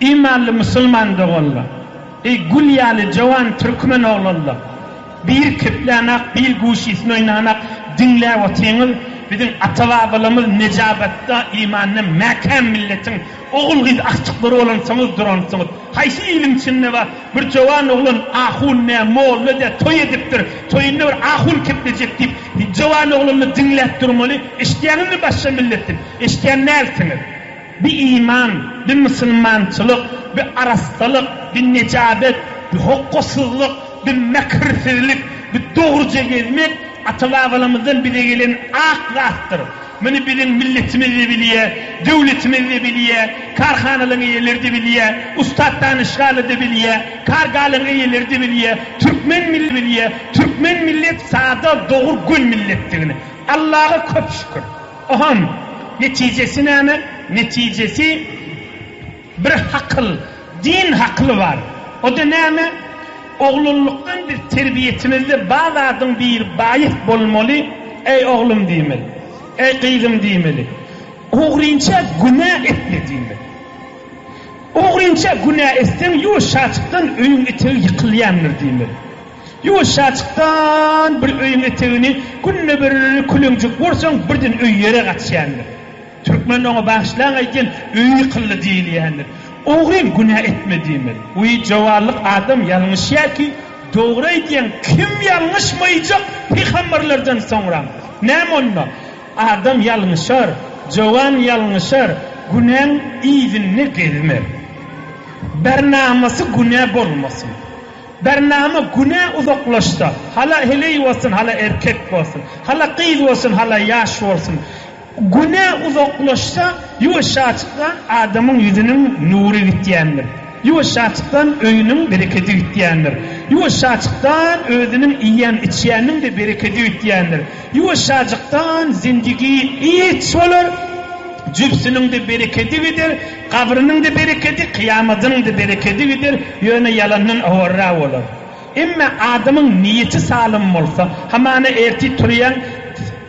Imanly musulman doganlar! Eý gül ýaly jowan türkmen oglanlar! Bir keplänak, bir guşysyny oýnanak diňläp otyňyz, biziň ata-babalarymyz nejabatda, imanda mäkäm milletiň Ogul-gyz agtyklary bolansoňyz duransyňyz. Haýsy iliň içinde bar, bir jowan oglan ahun dä, molla dä toý edipdir, toýunda bir ahun kepejek diýip, jowan oglany diňläp durmaly, eşitýäňizmi başga milletden? Eşitýän dälsiňiz. Bi iman, bi musulmançylyk, bi arassalyk, bi nejabet, bi hokgasyzlyk, bi mäkirsizlik, bi dogruja gezmek ata-babalarymyzdan bize gelen ak zatdyr. Muny biziň milletimiz-de bilýär, döwletimiz-de bilýär, karhanalaryň eýeleri-de bilýär, ussat danyşgany-da bilýär, kargalaryň eýeleri-de bilýär, türkmen milletini-de bilýär. Türkmen millet sada, dogry, göni milletdigini. Allaga köp şükür. Ohon, netijesi näme? Netijesi. Bir hakyl, din hakyly bar. O-da näme? Oglanlykdan biz terbiýeçimizde bar zadyň biri baýys bolmaly, Eý, oglum diýmeli. Eý, gyzym diýmeli. Ogrynça günä etme diýmeli. Ogrynça günä etseň, ýuwaşjaçykdan öýüň etegi ýykylýandyr diýmeli. Ýuwaşjaçykdan bir öýüň etegini günde bir küleňjek ursaň, birden öý ýere gaçýandyr. Türkmende oňa bagyşlaň aýtýan öýi kylly diýilýändir. Ogryn günä etme diýmeli. Uý jowarlyk adam ýalňyşýar ki dogry aýdýaň kim ýalňyşmaýjak pygamberlerden soňram. Näme onda? Adam ýalňyşar, jowan ýalňyşar günäň yzynda gezme. Bernamysy günä bolmasyn. Bernama günä uzaklaşsa hala heleý bolsun hala erkek bolsun, hala gyz bolsun hala ýaş bolsun. Güne uzaklaşsa, ýuwaşjajykdan adamyň ýüzüniň nury gitýändir. Ýuwaşjajykdan öýüniň berekedi gitýändir. Ýuwaşjajykdan özüniň iýen-içýäniniň-de berekedi gitýändir. Ýuwaşjajykdan zindigi giç bolar, jübsüniň-de berekedi gider, gabrynyň-da berekedi, kyýamadynyň-da berekedi gider, ýöne ýalandan howarra bolar. Emma adamyň niýeti salym bolsa, hamana ertir turýaň,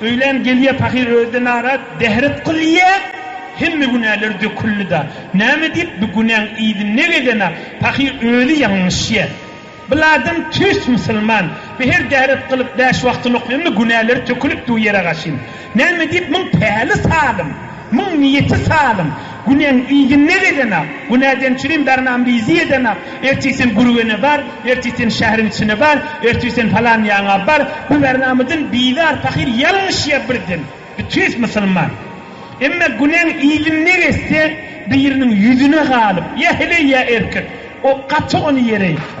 Öýlän gelýä pahyr özde narat dehret kylýa hemme günäler döküldida näme diýip bu günäň yzynda gezena pahyr özi ýalňyşýa bil adam tüýs musulman bi her dehret kylyp bäş wagtyny okýanda günäleri tökülip du ýere gaşyn näme diýip muň päli salym Muň niýeti salym, Günäň yzyna gedeňä, günäden çürim darman bizi edeňä, ertir sen Gürgene bar, ertir sen şäheriň içine bar, ertir sen falan ýaňa bar, bu Bernamydan bizar pahyr ýalňyşýa birden, bitis musulman. Emma günäň yzyna gezse, biriniň ýüzüne galyp, ýa heleý ýa erkek, o gaty ony ýere ýykar.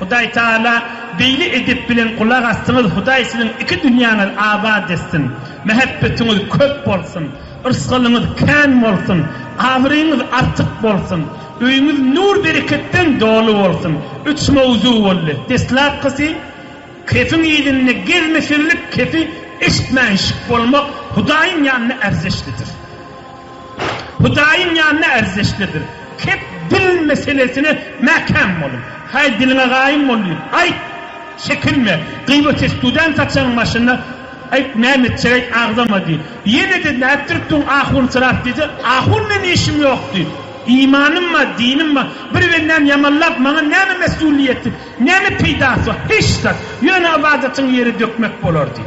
Hudaý Taala beýle edep bilen gulak asdyňyz Hudaý siziň iki dünýäňiz abat etsin Mähebbetiňiz köp bolsun Rysgalyňyz kän bolsun Abraýyňyz artyk bolsun Öýüňiz nur bereketden doly bolsun Üç mowzu boldy Deslapkysy Kefiň yzynda gezmesizlik kefi eşitmänşik bolmak Hudaýyň ýanynda erzeşlidir. Hudaýyň ýanyna ärzdeşlerdir. Kep dil meselesine mäkäm boluň. Haý, diliňe gaýym bol diýip, aýt! Çekinme! Gybat etdüwden saçagyň başyna aýt, näme etjek, aýt, agzama diý. Ýene-de nätdirip duruň, ahunsyrap diýse, Ahun men işim ýok diý. Imanym bar, dinim bar. Bir bendäni ýamanlap, maňa näme mesulyýeti, näme peýdasy bar? Hiç zat. Ýöne ybadatyň ýere dökmek bolar diý.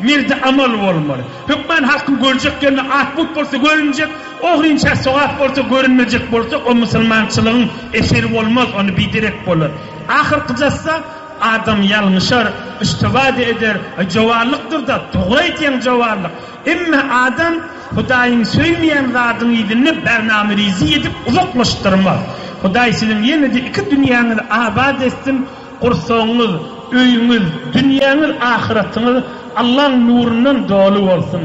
Merde amal bolmaly. Hökman halkyň görjek ýerine at-mut bolsa görünjek, ogrynça sogap bolsa görünmejek bolsa, o musulmançylygyň eseri bolmaz, ony biderek bolar. Ahyrkyjasda adam ýalňyşar, iştibada eder, e, jowanlykdyr-da, dogry aýdýaň, jowanlyk. Emma adam Hudaýyň söýmeýän zadyň yzynda bernama rizi edip uzaklaşdyrmaz. Hudaý siziň ýene-de iki dünýäňizi abat etsin! Gursagyňyz, öýüňiz, dünýäňiz, ahyratyňyz Allaň nurundan doly bolsun!